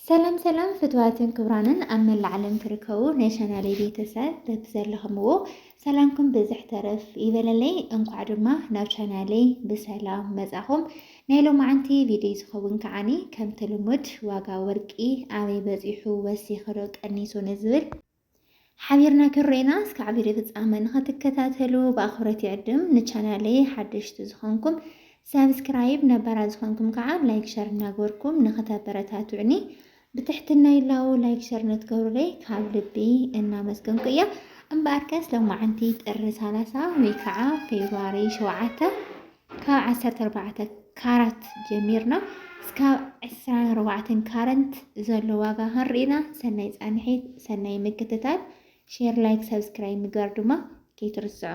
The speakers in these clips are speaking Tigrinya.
ሰላም ሰላም ፍትዋትን ክብራንን ኣብ መላእ ዓለም ትርከቡ ናይ ቻናለይ ቤተሰብ በቲ ዘለኹምዎ ሰላምኩም ብዝሕ ተረፍ ይበለለይ። እንኳዕ ድማ ናብ ቻናለይ ብሰላም መጻኹም። ናይ ሎማዓንቲ ቪድዮ ዝኸውን ከዓኒ ከምቲ ልሙድ ዋጋ ወርቂ ኣበይ በፂሑ ወሲኽዶ ቀኒሱ ንዝብል ሓቢርና ክንርኤና እስካዕ ቪድዮ ፍጻመ ንኸትከታተሉ ብኣኽብረት ይዕድም። ንቻናለይ ሓደሽቲ ዝኾንኩም ሳብስክራይብ፣ ነባራት ዝኾንኩም ከዓ ላይክ ሸር እናገበርኩም ንኸተበረታትዑኒ ብትሕትና ይላው። ላይክ ሸር ንትገብሩለይ ካብ ልቢ እናመስገንኩ እየ። እምበኣርከስ ሎማዓንቲ ጥሪ 30 ወይ ከዓ ፌብሩዋሪ 7 ካብ ዓሰርተ ኣርባዕተ ካራት ጀሚርና እስካብ ዕስራን ኣርባዕተን ካረንት ዘሎ ዋጋ ክንርኢና ሰናይ ፃንሒት ሰናይ ምክትታል ሼር ላይክ ሰብስክራይብ ምግባር ድማ ከይትርስዑ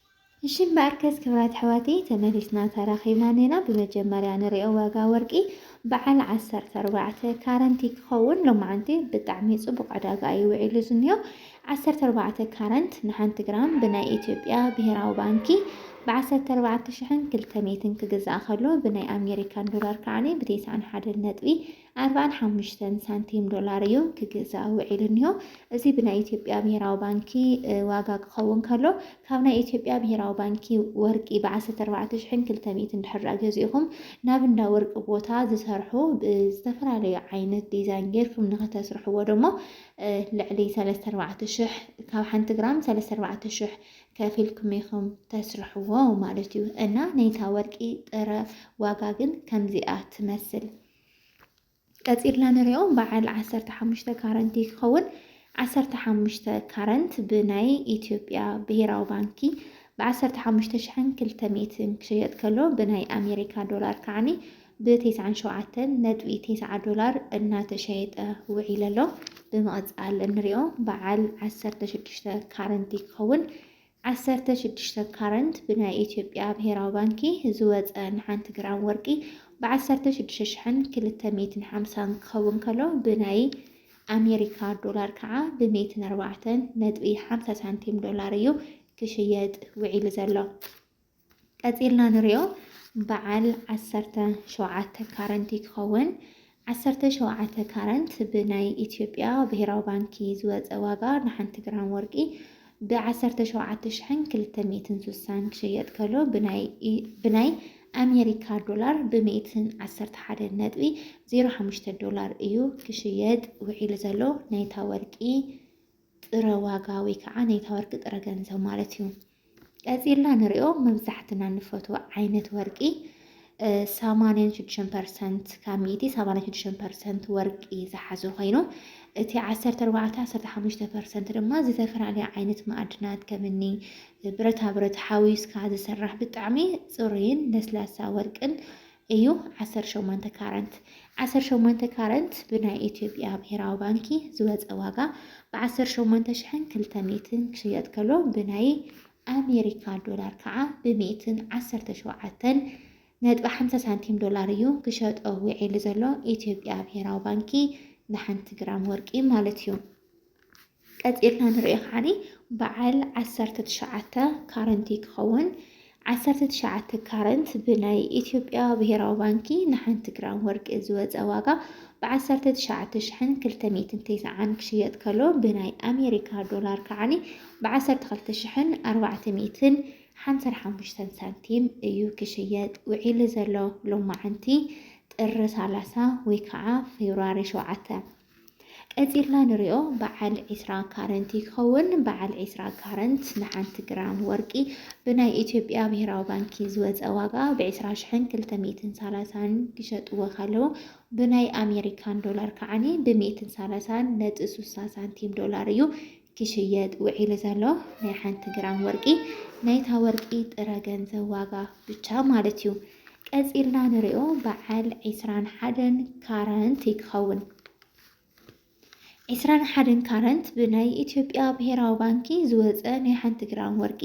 እሺ እምበኣርከስ ክብራት ኣሕዋተይ ተመሊስና ተራኺብና እኔና ብመጀመርያ ንሪኦ ዋጋ ወርቂ በዓል ዓሰርተ ኣርባዕተ ካረንቲ ክኸውን ሎማዓንቲ ብጣዕሚ ፅቡቕ ዕዳጋ እዩ ውዒሉ ዝኒሆ ዓሰርተ ኣርባዕተ ካረንት ንሓንቲ ግራም ብናይ ኢትዮጵያ ብሄራዊ ባንኪ ብዓሰርተ ኣርባዕተ ሽሕን ክልተ ሚእትን ክግዛእ ከሎ ብናይ ኣሜሪካን ዶላር ከዓኒ ብቴስዓን ሓደን ነጥቢ ኣርባዓን ሓሙሽተን ሳንቲም ዶላር እዩ ክግዛእ ውዒሉ እኒሆ። እዚ ብናይ ኢትዮጵያ ብሄራዊ ባንኪ ዋጋ ክኸውን ከሎ ካብ ናይ ኢትዮጵያ ብሄራዊ ባንኪ ወርቂ ብዓሰርተ ኣርባዕተ ሽሕን ክልተ ሚእትን ድሕር ገዚእኹም ናብ እንዳ ወርቂ ቦታ ዝሰርሑ ዝተፈላለዩ ዓይነት ዲዛይን ጌርኩም ንኸተስርሕዎ ደሞ ልዕሊ ሰለስተ ኣርባዕተ ሽሕ ካብ ሓንቲ ግራም ሰለስተ ኣርባዕተ ሽሕ ከፊልኩም ኢኹም ተስርሕዎ ማለት እዩ እና ናይታ ወርቂ ጥረ ዋጋ ግን ከምዚኣ ትመስል። ቀፂልና ንሪኦ በዓል ዓሰርተ ሓሙሽተ ካረንት እዩ ክኸውን። ዓሰርተ ሓሙሽተ ካረንት ብናይ ኢትዮጵያ ብሄራዊ ባንኪ ብዓሰርተ ሓሙሽተ ሽሕን ክልተ ሚእትን ክሸየጥ ከሎ ብናይ ኣሜሪካ ዶላር ከዓኒ ብቴስዓን ሸውዓተን ነጥቢ ቴስዓ ዶላር እናተሸየጠ ውዒለ ኣሎ። ብምቕፃል እንሪኦ በዓል ዓሰርተ ሽዱሽተ ካረንት እዩ ክኸውን። ዓሰርተ ሽዱሽተ ካረንት ብናይ ኢትዮጵያ ብሄራዊ ባንኪ ዝወፀ ንሓንቲ ግራም ወርቂ ብ ዓሰርተ ሽዱሽተ ሽሕን ክልተ ሚእትን ሓምሳን ክኸውን ከሎ ብናይ ኣሜሪካ ዶላር ከዓ ብ ሚእትን ኣርባዕተን ነጥቢ ሓምሳ ሳንቲም ዶላር እዩ ክሽየጥ ውዒሉ ዘሎ። ቀጺልና ንሪኦ በዓል ዓሰርተ ሸውዓተ ካረንት እዩ ክኸውን። ዓሰርተ ሸውዓተ ካረንት ብናይ ኢትዮጵያ ብሄራዊ ባንኪ ዝወፀ ዋጋ ንሓንቲ ግራም ወርቂ ብዓሰርተ ሸውዓተ ሽሕን ክልተ ሚእትን ስሳን ክሸየጥ ከሎ ብናይ ኣሜሪካ ዶላር ብሚእትን ዓሰርተ ሓደ ነጥቢ ዜሮ ሓሙሽተ ዶላር እዩ ክሽየጥ ውዒሉ ዘሎ ናይታ ወርቂ ጥረ ዋጋ ወይ ከዓ ናይታ ወርቂ ጥረ ገንዘብ ማለት እዩ። ቀፂልና ንሪኦ መብዛሕትና ንፈትዎ ዓይነት ወርቂ ሰማንያን ሽዱሽተን ፐርሰንት ካብ ሚእቲ ሰማንያን ሽዱሽተን ፐርሰንት ወርቂ ዝሓዘ ኮይኑ እቲ ዓሰርተ ኣርባዕተ ዓሰርተ ሓሙሽተ ፐርሰንት ድማ ዝተፈላለዩ ዓይነት ማዕድናት ከምኒ ብረታ ብረት ሓዊስካ ዝስራሕ ብጣዕሚ ፅሩይን ለስላሳ ወርቅን እዩ ዓሰርተ ሸሞንተ ካረንት ዓሰርተ ሸሞንተ ካረንት ብናይ ኢትዮጵያ ብሄራዊ ባንኪ ዝወፀ ዋጋ ብዓሰርተ ሸሞንተ ሽሕን ክልተ ሚእትን ክሽየጥ ከሎ ብናይ ኣሜሪካ ዶላር ከዓ ብሚእትን ዓሰርተ ሸውዓተን ነጥቢ ሓምሳ ሳንቲም ዶላር እዩ ክሸጦ ውዒሉ ዘሎ ኢትዮጵያ ብሄራዊ ባንኪ ንሓንቲ ግራም ወርቂ ማለት እዩ። ቀጺልና ንሪኦ ከዓኒ በዓል ዓሰርተ ትሽዓተ ካረንት እዩ ክኸውን። ዓሰርተ ትሽዓተ ካረንት ብናይ ኢትዮጵያ ብሄራዊ ባንኪ ንሓንቲ ግራም ወርቂ ዝወፀ ዋጋ ብዓሰርተ ትሽዓተ ሽሕን ክልተ ሚእትን ተስዓን ክሽየጥ ከሎ ብናይ ኣሜሪካ ዶላር ከዓኒ ብዓሰርተ ክልተ ሽሕን ኣርባዕተ ሚእትን ሓምሳን ሓሙሽተን ሳንቲም እዩ ክሽየጥ ውዒሉ ዘሎ ሎማዓንቲ ጥሪ ሰላሳ ወይ ከዓ ፌብርዋሪ ሸውዓተ ቀጺልና ንሪኦ በዓል ዒስራ ካረንት እዩ ክኸውን። በዓል ዒስራ ካረንት ንሓንቲ ግራም ወርቂ ብናይ ኢትዮጵያ ብሄራዊ ባንኪ ዝወፀ ዋጋ ብዒስራ ሽሕን ክልተ ሚእትን ሳላሳን ክሸጥዎ ከለዉ ብናይ ኣሜሪካን ዶላር ከዓኒ ብሚእትን ሳላሳን ነጥቢ ሱሳ ሳንቲም ዶላር እዩ ክሽየጥ ውዒሉ ዘሎ ናይ ሓንቲ ግራም ወርቂ ናይታ ወርቂ ጥረ ገንዘብ ዋጋ ብቻ ማለት እዩ። ቀጺልና ንሪኦ በዓል ዒስራን ሓደን ካረንት እዩ ክኸውን። ዕስራን ሓደን ካረንት ብናይ ኢትዮጵያ ብሄራዊ ባንኪ ዝወፀ ናይ ሓንቲ ግራም ወርቂ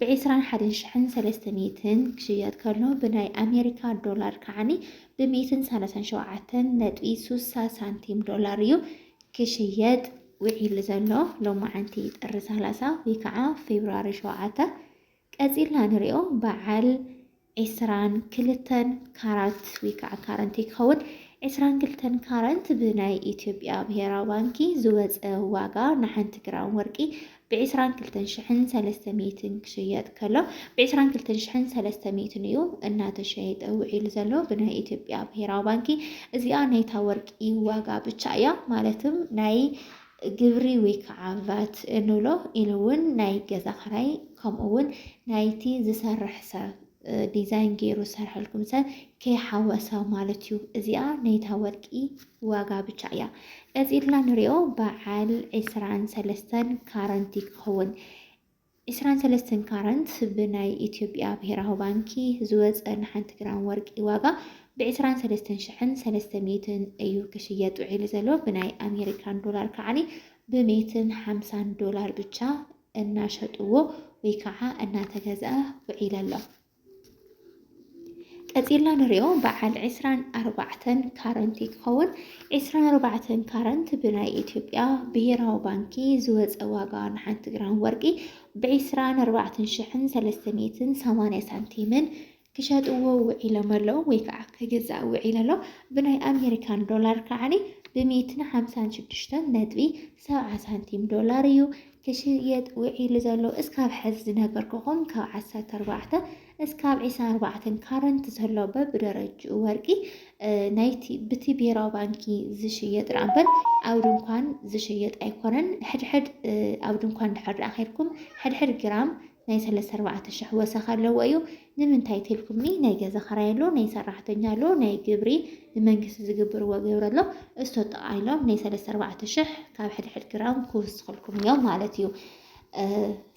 ብዕስራን ሓደን ሽሕን ሰለስተ ሚእትን ክሽየጥ ከሎ ብናይ ኣሜሪካ ዶላር ከዓኒ ብሚእትን ሰላሳን ሸውዓተን ነጥቢ ሱሳ ሳንቲም ዶላር እዩ ክሽየጥ ውዒሉ ዘሎ ሎማዓንቲ ጥሪ ሰላሳ ወይ ከዓ ፌብርዋሪ ሸውዓተ ቀፂልና ንሪኦ በዓል ዕስራን ክልተን ካራት ወይ ከዓ ካረንት ክኸውን ዕስራን ክልተን ካረንት ብናይ ኢትዮጵያ ብሄራዊ ባንኪ ዝወፀ ዋጋ ንሓንቲ ግራም ወርቂ ብዕስራን ክልተን ሽሕን ሰለስተ ሚእትን ክሽየጥ ከሎ ብዕስራን ክልተን ሽሕን ሰለስተ ሚእትን እዩ እናተሸየጠ ውዒሉ ዘሎ ብናይ ኢትዮጵያ ብሄራዊ ባንኪ። እዚኣ ናይታ ወርቂ ዋጋ ብቻ እያ ማለትም ናይ ግብሪ ወይ ከዓ ቫት እንብሎ ኢሉ እውን ናይ ገዛ ክራይ ከምኡ እውን ናይቲ ዝሰርሕ ሰብ ዲዛይን ጌሩ ዝሰርሐልኩም ሰብ ከይሓወሰ ማለት እዩ። እዚኣ ናይታ ወርቂ ዋጋ ብቻ እያ። ቀፂልና ንሪኦ በዓል ዕስራን ሰለስተን ካረንት ይኸውን። ዕስራን ሰለስተን ካረንት ብናይ ኢትዮጵያ ብሄራዊ ባንኪ ዝወፀ ንሓንቲ ግራም ወርቂ ዋጋ ብዕስራን ሰለስተን ሽሕን ሰለስተ ሚእትን እዩ ክሽየጥ ውዒሉ ዘሎ ብናይ ኣሜሪካን ዶላር ከዓኒ ብሜትን ሓምሳን ዶላር ብቻ እናሸጥዎ ወይ ከዓ እናተገዝኣ ውዒለ ኣሎ። ቀፂልና ንሪኦ በዓል ዕስራን ኣርባዕተን ካረንት ክኸውን ዕስራን ኣርባዕተን ካረንት ብናይ ኢትዮጵያ ብሄራዊ ባንኪ ዝወፀ ዋጋ ንሓንቲ ግራም ወርቂ ብዕስራን ኣርባዕተን ሽሕን ሰለስተ ሚእትን ሰማንያ ሳንቲምን ክሸጥዎ ውዒሎም ኣለዉ ወይ ከዓ ክግዛእ ውዒል ኣሎ። ብናይ ኣሜሪካን ዶላር ከዓኒ ብሚእትን ሓምሳን ሽዱሽተን ነጥቢ ሰብዓ ሳንቲም ዶላር እዩ ክሽየጥ ውዒሉ ዘሎ። እስካብ ሕዚ ዝነገርኩኹም ካብ ዓሰርተ ኣርባዕተ እስካብ ዒስራን ኣርባዕተን ካረንት ዘሎ በብደረጅኡ ወርቂ ናይቲ ብቲ ብሔራዊ ባንኪ ዝሽየጥ ደኣ እምበር ኣብ ድንኳን ዝሽየጥ ኣይኮነን። ሕድሕድ ኣብ ድንኳን ድሕር ደኣ ኬድኩም ሕድሕድ ግራም ናይ ሰለስተ ኣርባዕተ ሽሕ ወሰኽ ኣለዎ እዩ ንምንታይ ትልኩምኒ ናይ ገዛ ኸራይ ኣሎ ናይ ሰራሕተኛ ኣሎ ናይ ግብሪ ንመንግስቲ ዝግብርዎ ግብሪ ኣሎ እሶ ጥቓ ኢሎም ናይ ሰለስተ ኣርባዕተ ሽሕ ካብ ሕድሕድ ግራም ክውስኽልኩም እዮም ማለት እዩ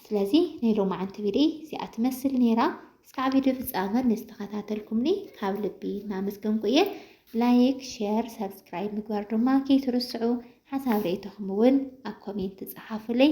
ስለዚ ናይ ሎማዓንቲ ቪድዮ እዚኣ ትመስል ነይራ እስካዕ ቪድዮ ፍፃመ ንዝተኸታተልኩምኒ ካብ ልቢ እናመስገንኩ እየ ላይክ ሼር ሰብስክራይብ ምግባር ድማ ከይትርስዑ ሓሳብ ርእይቶኹም እውን ኣብ ኮሜንት ፀሓፉለይ